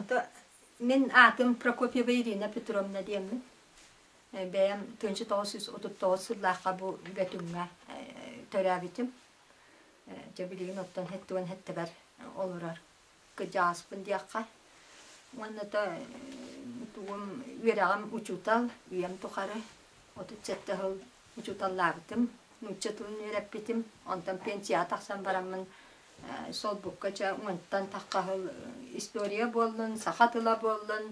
Ото мин аатым Прокопьева Ирина Петровна диэммин. Э, бэйэм тыынча тоҕус сүүс отут тоҕус сыллаахха бу бөтүҥҥэ э, төрөөбүтүм. Э, дьэ билигин оттон хэттуган хэттэбэр олорор кыдьааспын диэххэ уонната тугум үөрэҕим учуутал үйэм тухары отут сэттэ сыл учууталлаабытым нуучча тылын үөрэппитим онтон пенсияҕа тахсан бараммын солбукка чэ уонтан тахха сыл история буоллун саха тыла буоллун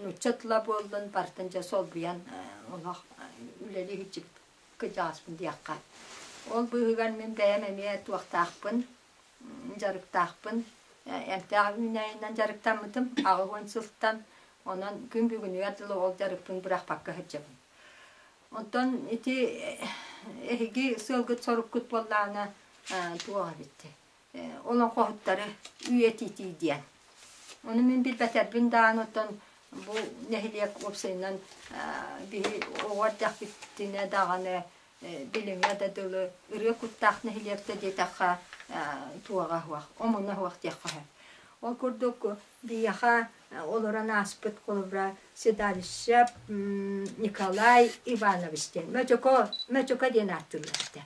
нуучча тыла буоллун барытын дьэ солбуйан олох үлэлиһиччи кыдьааспын диэххэ ол быыһыгар мин бэйэм эмиэ туохтаахпын дьарыктаахпын. Эмтээх үүнээйинэн дьарыктаммытым аҕыс уон сылтан. Онон күн бүгүнүгэр дылы ол дьарыкпын бырахпакка сылдьабын. Оттон ити эһиги сыалгыт-соруккут буоллаҕына туох эбит олоҥхоһуттары үйэтитии диэн. Ону мин билбэтэрбин даҕаны оттон бу нэһилиэк уопсайынан биһи оҕо эрдэхпитинэ даҕаны билиҥҥэ да дылы ырыа куттаах нэһилиэктэ диэтэххэ туоҕа аһыах, омуна аһыах диэххэ сөп. Ол курдук биһиэхэ олорон ааспыт холобура седалище Николай Иванович диэн Мөчөкө, Мөчөкө диэн ааттыыллар этэ.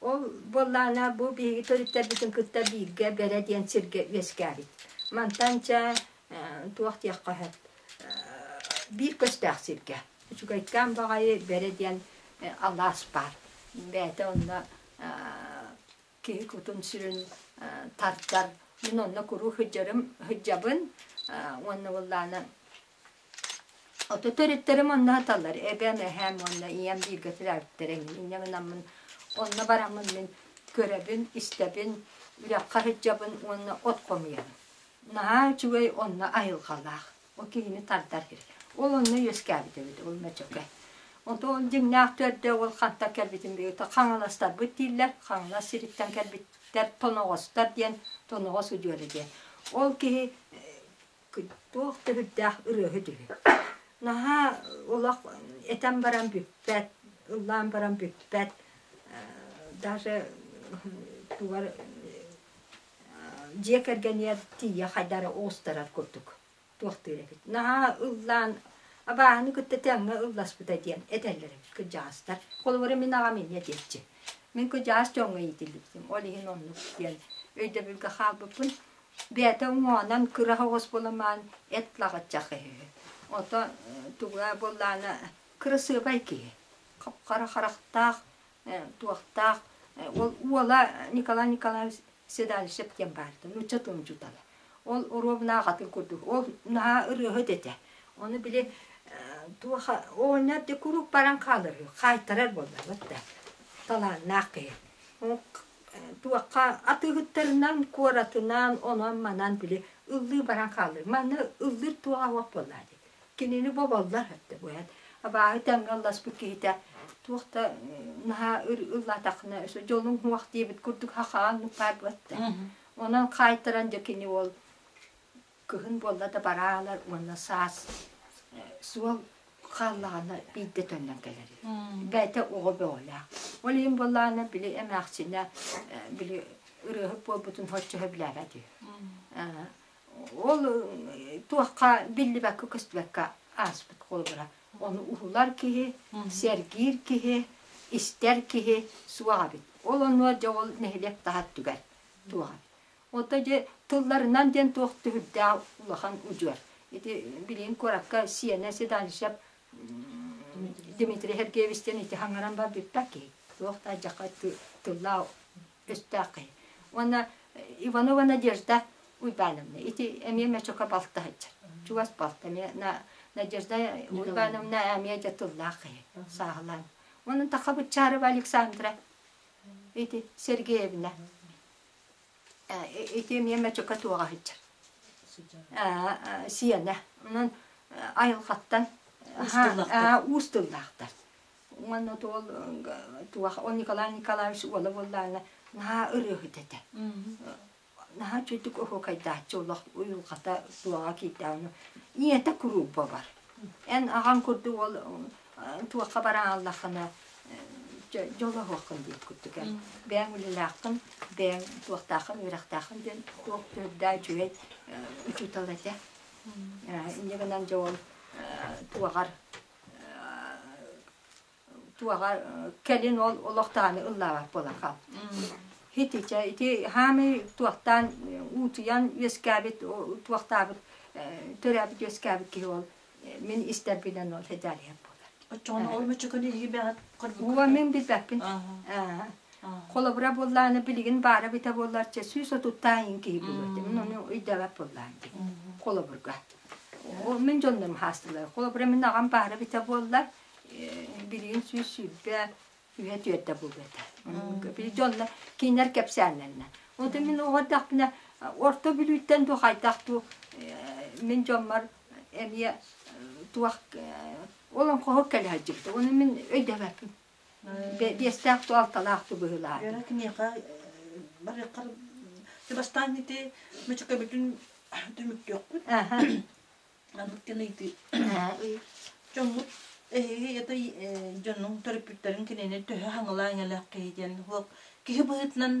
Ол буоллаана бу биһиги төрүттэрбитин кытта бииргэ Бэрэ диэн сиргэ үөскээбит. Мантан чэ туох диэххэ сөп биир көстөөх сиргэ. Үчүгэйкээн баҕайы бэрэ диэн алаас баар. Бэйэтэ онно киһи кутун-сүрүн тардар. Мин онно куруук сылдьарым, сылдьабын уонна буоллаана ото төрүттэрим онно сыталлар. Эбэм, эһээм уонна ийэм бииргэ төрөөбүттэр эҥин. Ийэм ынаммын онно бараммын мин көрөбүн, истэбин, үрэххэ сылдьабын уонна от хомуйабын. Наһаа үчүгэй онно айылҕалаах. Ол киһини тардар. Ол онно үөскээбит эбит, ол мөчөкө. Ол дьиҥнээх төрдө ол хантан кэлбитин билбит. Хаҥаластарбыт дииллэр. Хаҥалас сириттэн кэлбиттэр тоноҕостор диэн тоноҕос удьуора диэн. Ол киһи туох да бүрдээх ырыаһыт үһү. Наһаа олох этэн баран бүппэт, ыллаан баран бүппэт. Даже тугар дьиэ кэргэнигэр тиийэ хайдары оҕустарар курдук туохтуур эбит наһаа ыллаан абааһыны кытта тэҥҥэ ылласпыта диэн этэллэр эбит кырдьаҕастар холобура мин аҕам эмиэ диэччи мин кырдьаҕас дьоҥҥо иитиллибитим ол иһин оннук диэн өйдөбүлгэ хаалбыппын бэйэтэ уҥуоҕунан кыра оҕус буламаан эт лаҕыччах үһү ото туга буоллаана кырасыабай киһи хара харахтаах туохтаах уола Николай Николаевич Седалищев диэн баарда нуучча тылын учуутала ол оруобунаах атын курдук ол наһаа ырыаһыт этэ ону били туоха оонньор да куруук баран хаалар үһү хаайтарар буоллабыт да талааннаах киһи туохха атыыһыттарынан куоратынан онон манан били ыллыы баран хаалар манна ыллыыр туоха суох буоллаа дии Кинини бу баллар эрдэ бу эт абааһы тэҥҥэ ылласпыт киһитэ туох да наһаа ыллаатаххына дьолуҥ уһуох диэбит курдук хахаан нукаайбыатта. Онон хаайтаран дьэ кини уол кыһын буолла да бараалар уонна саас суол хааллаҕына биирдэ төннөн кэлэр. Бэйэтэ оҕо бөҕөлөөх. Ол иһин буоллаҕына били эмээхсинэ били ырыаһыт буолбутун хоччоһо билээбэт үһү. Ол туохха биллибэккэ-көстүбэккэ ааспыт холобура. Ону уһулар киһи, сэргиир киһи, истэр киһи суох эбит. Ол онугар дьэ ол нэһилиэк таһа өттүгэр туох эбит. Оттон дьэ тылларынан диэн туох түһүрдээх улахан удьуор. Ити билигин куоракка Сиэнэ Седаничев Дмитрий Сергеевич диэн ити хаҥаран барбыппат киһи. Туох да дьахха тыллаах Өстөөххөй уонна Иванова Надежда Уйбановна, ити эмиэ мөчөкө балта сылдьар. Чугас балта эмиэ Надежда Уйбановна эмиэ дьэ тыллаах киһи, сааһылаан. Онон таха быччаарова Александра, ити Сергеевна. Ити эмиэ мөчөкө туоҕа сыдьар. Сиэнэ. Онон айылҕаттан уус тыллаахтар. Манна туол туах он Николай Николаевич уола буоллаана наһаа ырыаһыт этэ. Наһаа чудук оһуокайдааччы олох уйулҕата суоҕа киирдэҕинэ ийэтэ курууппа бар. Эн аҕаҥ курдук ол туохха барааллаххына дьолоһуоххун диир курдук эн. Бэйэҥ үлэлээххин, бэйэҥ туохтааххын үөрэхтээххин диэн туох төрдаа үчүгэй учуутал этэ. Инньэ гынан дьэ ол туоҕар туоҕа кэлин ол олохтооҕун ыллаабат буолаха хитичэ ити хаамы туохтаан уутуйан үөскээбит туохтаабыт төрөөбүт үөскээбит киһи ол мин истэрбинэн ол хедалият буолар оччоҕуна ол мөчөкөнү иһи бэҕэт уо мин билбэппин холобура буоллааны билигин баара бите буоллар чэ сүүс отуттаан киһи булуо мин ону өйдөбөт буоллаан холобурга Ол мин дьоннорум хаастылар. Холобура, мин аҕам баара эбитэ буоллар, билигин сүүс сүүрбэ үһэ түөрдэ буолуо этэ. Били дьонно кинилэр кэпсээннэринэ. Онтон мин оҕо эрдэхпинэ орто бүлүүттэн дуу хайдах дуу мин дьоммор эмиэ туох олоҥхоһут кэлэ сылдьыбыта. Ону мин өйдөбөппүн. биэстээх ту алталаах ту быһылаат. Эра киниэхэ барыаххар ты бастаан ити мычыка бүтүн түмүктүөхпүт. Аха. Анбыт кенэйти. Чоммут эһи это дьоннуң төрөппүттэрин кинини төһө хаҥала эҥэлэх киһи диэн хуох киһи быһытынан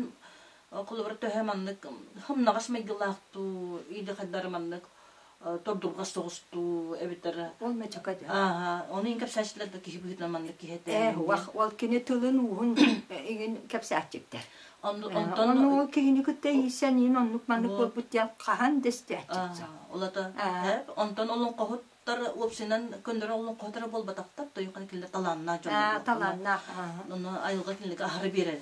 холобур төһө маннык хымнаҕас майгылаах туу идэ хайдары маннык тордурҕас соҕус дуу эбитэр ол мечака дьэ ааһа ону иин кэпсээччилэр да киһи быһыытынан маннык киһи этэ э уах ол кини тылын-ууһун игин кэпсээччиктэр онтон ол киһини кытта иисен иин оннук маннык буолбут диэн хаһан дэстээччиктэр олото онтон олон хоһуттар уопсынан көннөрө олон хоһутара буолбатахтар тойухан кинилер талааннаах дьон талааннаах ону айылга кинилерге аһары берер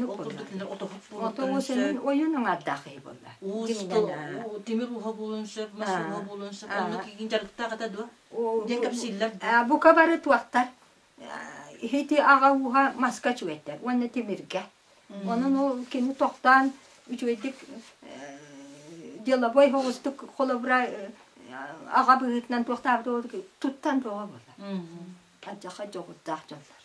ол курдук кинилер отоһут буолуттарын ойун аңардаах киһи болла уусту тимир уһа буолан сөп мас уһа буолан сөп оннук игин дьарыктаах это дуо диэн кэпсииллэр бука бары туохтар иһити аҕа уһа маска чүгэтэр уонна тимиргэ онон ол кини тохтаан үчүгэйдик деловой хоҕустук холобура аҕа быһыытынан туохтаабыт туттан тоҕо буолар алдьархай дьоҕурдаах дьоннор.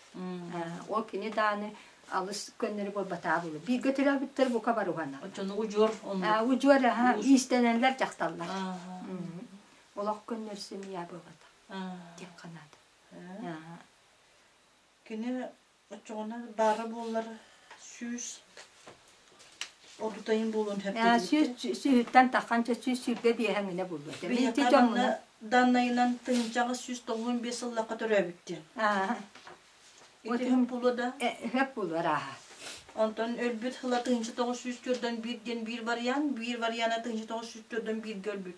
Ол кини дааны алыс көннөрү буолбатаабылы бииргэ төрөөбүттэр бука баруһана. Оччону удьуор оннук. Удьуор аха иистэнэллэр дьахталлар. Олох көннөр семья буолбата. Тек канат. Кини Оччоҕуна баара буоллар сүүс ордутайын буолуон сөп. сүүс сүүһүттэн таххан сүүс сүүргэ диэһэҥинэ булуо. Биһиэхэ данна даннайынан тыҥчаҕа сүүс тоҕуон биэс сыллахха төрөөбүттэн. Итиһин булуо да? Хөп булуор ааһа. Онтон өлбүт хыла тыынча тоҕус сүүс төрдөн биир диэн биир вариант, биир вариана тыынча тоҕус сүүс төрдөн бииргэ өлбүт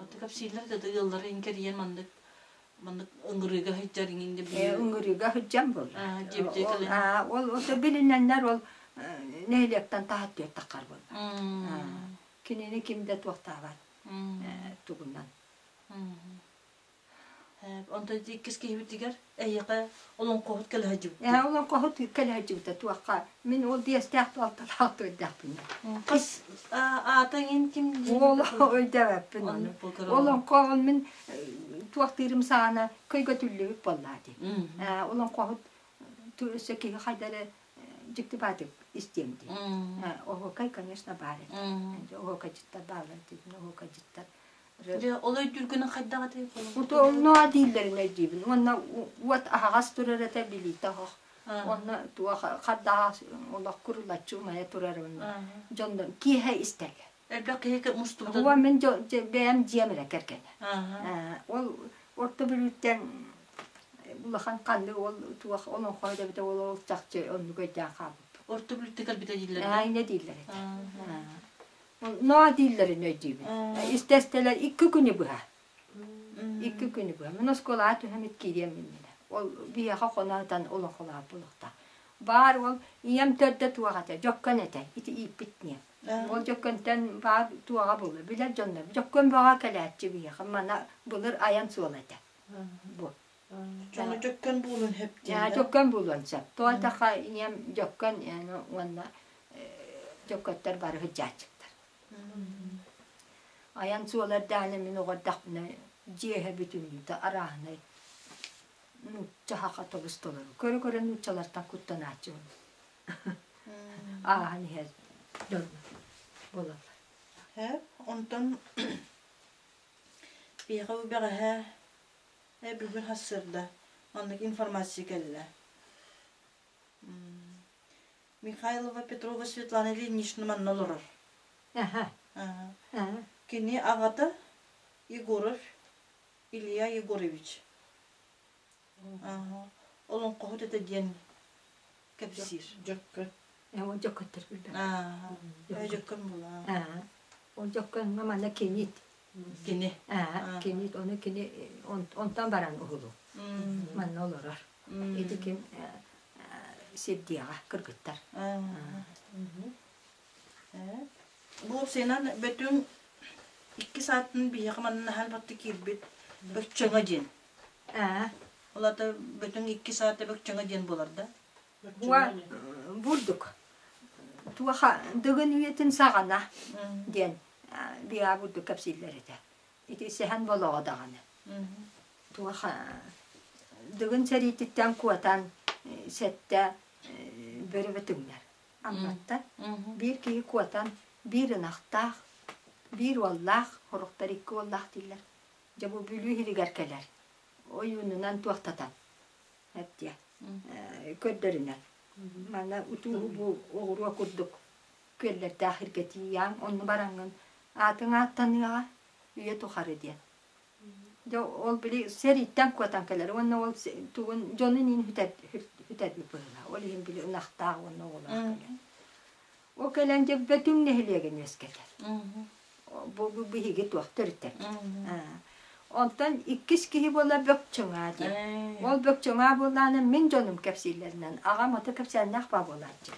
Онто кэпсииллэр да ыаллары иҥкэрийэн маннык маннык ыҥырыыга сылдьар иҥин да билиэн. Ыҥырыыга сылдьан буолла. Ол ол билинэннэр ол нэһилиэктэн таһат түөртаххар буолла. Кинини ким да туохтаабат тугунан. Онтон иккис киһибитигэр эйиэхэ олоҥхоһут кэлэ сылдьыбыт. Ээ, олоҥхоһут кэлэ сылдьыбыта туохха. Мин ол биэстээх туолталаах туойдаахпын. Хас аатаҥын ким Уол өйдөөбөппүн оны. Олоҥхоһун мин туохтыырым саҕана көйгөтүллүбүт буоллаа дии. Олоҥхоһут өссө киһи хайдары дьиктибаатык истиэм дии. Оһуокай, конечно, баар этэ. Оһуокайдьыттар бааллар диэтин оһуокайдьыттар Дьэ, ол өйдүүргүнүн хайдах этий? Утоннуа дииллэрин өйдүүбүн. Уонна уот аһаҕас турар этэ билиитэ оһох. Онно туох хардаҕа олох курулаччы умайа турар онно. Дьон киэһэ истэргэ. Элбэх киһи мустубутун. Уо мин бэйэм дьиэм эрэ кэргэнэ. Ол орто бүлүүттэн улахан ханны ол туох олоҥхо да битэ ол чахчы оннук өйдөөн хаалбыт. Орто бүлүүттэ кэлбитэ дииллэр. Айна дииллэр этэ. Наа дииллэрин өйдүүбүн. Истэстэлэр икки күнү быһа. Икки күнү быһа. Мин оскуолаҕа түһэммит киириэм иннинэ. Ол биһиэхэ хоноотон олохолоох буолуохтаах. Баар уол ийэм төрдө туох этэ, Дьөккөн этэ. Ити ииппит ийэм. Ол Дьөккөнтөн баар туоҕа буолла. Билэр дьоннор. Дьөккөн бөҕө кэлээччи биһиэхэ. Мана былыр айан суола этэ. Бу. Дьону дьөккөн буолан хэптиэllä. Дьөккөн буолан сөп. Туолтаха ийэм дьөккөн уонна дьөккөттөр бары хыдьааччыктар. Айан суолардааны мин оҕардахпына дьиэһэ бүтүннүүтэ арааһынай нуучча хаха тобустолору көрө көрө нууччалартан куттанааччыбын. Ааһан иһэр дьонно буолаллар. Һэ, онтон биһиэхэ бэҕэһээ Э, бүгүн хас сырда. Оннук информация кэллэ. Михайлова Петрова Светлана Ильинична манна олорор. Кини аҕата Егоров Илья Егорович. Олоҥхоһут это диэн кэпсиир. Дьөккөн. Ол дьөккөттөр билбэт. Дьөккөн була. Ол дьөккөҥҥө манна кинит. Кини. Кинит, ону кини онтон баран уһулу. Манна олорор. Ити ким сирдиэҕэ кыргыттар. Бу сенан бөтүн икки саатын биһиэхэ манна хаалбатты киирбит бөччөҥө диэн. Ээ, олото бүтүн иккис аат эбэкчэҕэ диэн буоларда. Уа, бурдук. Туоха дыгын үйэтин саҕана диэн биаа бурдук кэпсииллэр этэ. Ити сэһэн болоҕо даҕаны. Туоха дыгын сэриититтэн куотан сэттэ бөрөбө түҥнэр амматтар. Биир киһи куотан биир ынахтаах, биир уоллаах, сорохтор икки уоллаах дииллэр. Дьэ бу Бүлүү иһигэр кэлэр. Ойуунунан туохтатан. Эптиэ. Көрдөрүнэн. Мана утууһу бу оҕуруо курдук күөллэрдээх иргэтииаҥ, онну бараҥҥын аатыҥ ааттаныаҕа, үйэ тухары диэн. Дьэ ол били сэрииттэн куотан кэлэр уонна ол тугун дьонун иин хүтэр хүтэрбит быһыылаах. Ол иһин били ынахтаах уонна оҕолоох кэлэр. Ол кэлэн дьэ Бөтүҥ нэһилиэгин үөскэтэр. Бу биһиги туох төрүтэ. Онтон иккис киһи буолар Бөкчөҥаа диэн. Ол Бөкчөҥаа буолаанын мин дьонум кэпсииллэринэн аҕам ата кэпсээннээх баа буолааччы.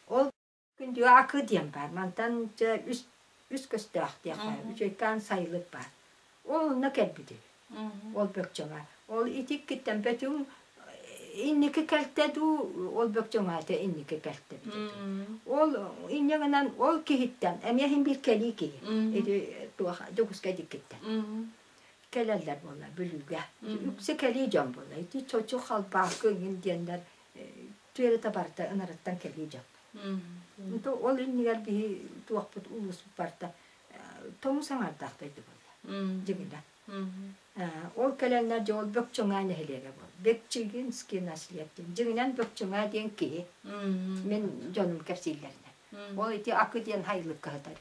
Ол күндү Аакы диэн баар. Мантан дьэ үс үс көстөөх диэх баар. Үчүгэйкээн сайылык баар. Ол онно кэлбитим. Ол бөкчөҥө. Ол итиккиттэн бөтүҥ инники кэлтэ дуу, ол бөкчөҥөтө инники кэлтэ эбит. Ол инньэ гынан ол киһиттэн эмиэ иһин биир кэлии киһи ити туох Дьокуускай диккиттэн кэлэллэр буолла Бүлүүгэ. Үксэ кэлии дьон буолла. Ити чочу халбаакы иҥин диэннэр түөрэтэ барыта ынарыттан кэлии дьон. Ол иннигэр биһи туохпут улууспут барыта тоҥус аҥардаахтайдык буолла. Дьиҥинэ. Ол кэлэннэр дьэ ол Бөкчөҥөө нэһилиэгэ буол. Бэкчигинский наследник. Дьиҥинэн Бөкчөҥөө диэн киһи. Мин дьонум кэпсииллэринэн. Ол ити Акы диэн хайылык кыһатар.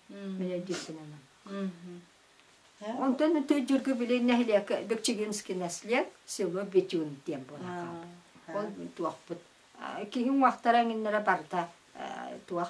Мин өйдүүрбүнэн. Онтон төрдүргү били нэһилиэк Бөкчигинский наслед, село Бетюн диэн буолан хаалбыт. Ол туохпут. Киһи уҥахтара эҥиннэрэ барда туох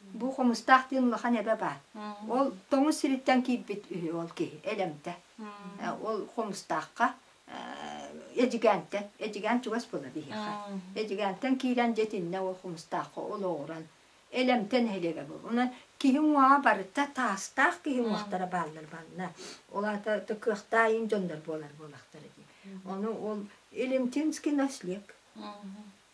Бу Хомустаах диэн улахан эбэ баар. Ол тоҥус сириттэн киирбит үһү ол киһи, Элэмтэ. Ол Хомустаахха, Эдьигээнтэн. Эдьигээн чугас буолар биһиэхэ. Эдьигээнтэн киирэн дьэтиннэ ол Хомустаахха олоҕуран. Элэмтэ нэһилиэгэ буолар. Онон киһи уҥуоҕа барыта таастаах киһи уҥуохтара бааллар манна. Ол аата кыахтаайын дьоннор буолар буолахтара дии. Ону ол Илимтинский наслег.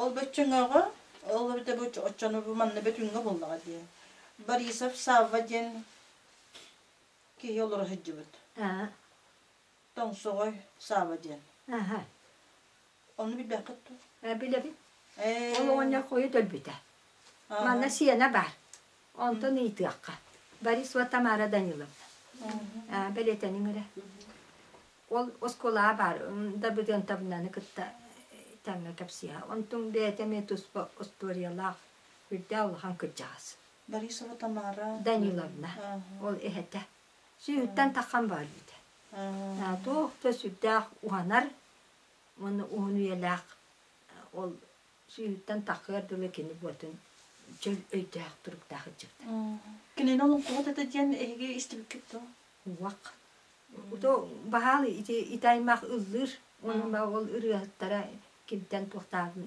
ол бөтчөҥөҕө ол бэбите бу оччону манна бөтүҥҥэ буллаҕа дии Борисов Савва диэн киһи олоро сылдьыбыт тоҥсоҕой Савва диэн Ону билбэххит дуо? Билэбин. Ол оҕонньор хойут өлбүтэ. Манна сиэнэ баар. Онтон ыйытыахха. Борисова Тамара Даниловна. Бэлиэтэниҥ эрэ. Ол оскуолаҕа баар Дабыдыантабынаны кытта тэҥҥэ кэпсиэҕэ. Онтуҥ бэйэтэ эмиэ туспа остуоруйалаах үрдээх улахан кырдьаҕас. Борисова Тамара Даниловна ол эһэтэ. Сүүһүттэн тахан баар эбитэ. Туох да сүрдээх уһанар уонна уһун үйэлээх ол Сүүһүттэн такыар дылы кини буотун чөл өйдөөх туруктаах ыччыктар. Кинини олоҥхоҕут это диэн эһиги истибиккит дуо? Уах. Ото баһаал ити ити аймах ыллыыр. Онон ол ырыаһыттара кимтэн туохтаабын